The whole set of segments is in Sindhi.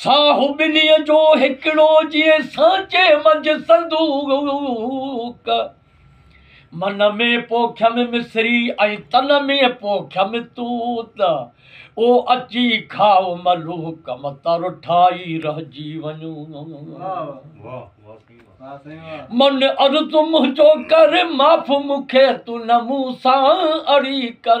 ساهو ٻنهي جو هڪڙو جيئن سانچي منجهه صندوق. من ۾ پوکيم مصري ۽ تن ۾ پوکيم توت. او اچي کاء ملوڪ مت رٺائي رهجي وڃ. من عرض منهنجو ڪر معاف مون کي تون نه مون سان اڙي ڪر.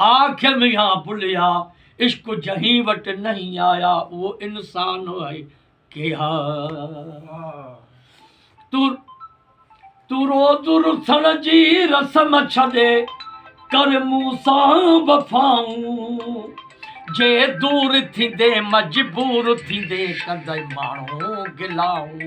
آکيم يا بليا عشق جنهين وٽ نهين آيا اهو انسان آهي ڪي ها تون تون روز رسڻ جي رسم ڇڏي ڪر مون سان وفائون جي دور ٿيندي مجبور ٿيندي ڪندي ماڻهو گلاون